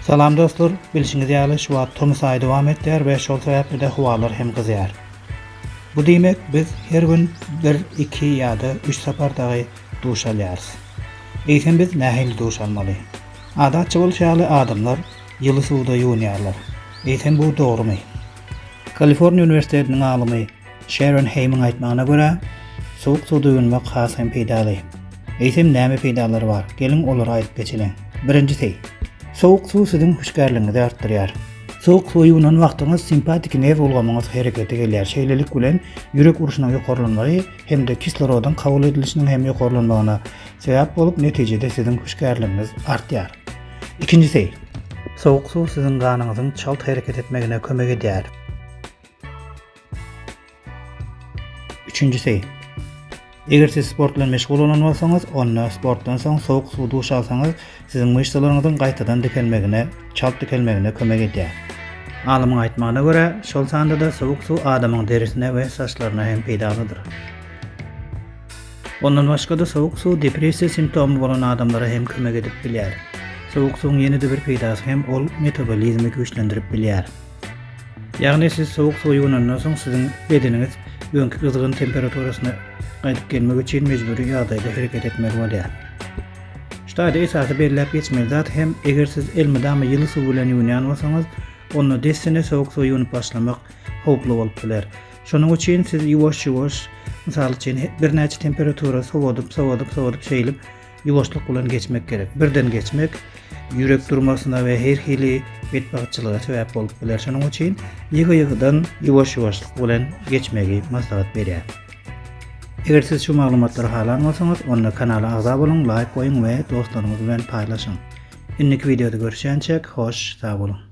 Salam dostlar, bilşiňiz ýaly şu wagt tomus aýy dowam etýär we şol sebäpli-de howalar hem gyzýar. Bu diýmek, biz her gün 1, 2 ýa-da 3 sapar dagy duş alýarys. Eýsem biz nähili duş almaly? Adatça bolşy ýaly adamlar ýyly suwda ýuwunýarlar. Eýsem bu dogrumy? Kaliforniýa uniwersitetiniň alymy Şeron Heýmiň aýtmagyna görä, sowuk suwda ýuwunmak has hem peýdaly. Eýsem näme peýdalary bar? Geliň olary aýdyp geçeliň. Birinjisi, sowuk suw siziň hüşgärligiňizi artdyrýar. Sowuk suwa ýuwunan wagtyňyz simpat-iki nerw ulgamyňyz herekete gelýär, şeýlelik bilen ýürek urşunyň ýokarlanmagy hem-de kislorodyň kabul edilişiniň hem ýokarlanmagyna sebäp bolup, netijede siziň hüşgärligiňiz artýar. Ikinjisi, sowuk suw siziň ganyňyzyň çalt hereket etmegine kömek edýär. Üçünjisi, eger siz sport bilen meşgul bolan bolsaňyz, onda sportdan soň sowuk suw duş alsaňyz, siziň myşsalaryňyzyň gaýtadan dikelmegine, çalt dikelmegine kömek edýär. Alymyň aýtmagyna görä, şol sanda-da sowuk suw adamyň derisine we saçlaryna hem peýdalydyr. Ondan başga-da sowuk suw depressiýa simptomy bolan adamlara hem kömek edip bilýär. Sowuk suwuň ýene-de bir peýdasy hem ol metabolizmi güýçlendirip bilýär. Ýagny siz sowuk suwa ýuwunandan soň siziň bedeniňiz öňki gyzgyn temperaturasyna gaýdyp gelmek üçin mejbury ýagdaýda hereket etmeli bolýar. Şu taýda esasy belläp geçmeli zat hem eger siz elmydama ýyly suw bilen ýuwunýan bolsaňyz, onda dessine sowuk suwa ýuwunyp başlamak howply bolup biler. Şonuň üçin siz ýuwaş-ýuwaş, mysal üçin, birnäçe temperatura sowadyp, sowadyp, sowadyp şeýlip ýuwaşlyk bilen geçmek gerek. Birden geçmek ýürek durmasyna we her hili betbagtçylyga sebäp bolup biler. Şonuň üçin ýygy-ýygydan ýuwaş-ýuwaşlyk bilen geçmegi maslahat berýär. Eger siz şu maglumatlary halan bolsaňyz, onda kanala agza boluň, laýk goýuň we dostlaryňyz bilen paýlaşyň. Indiki wideoda görüşýänçäk, hoş, sag boluň!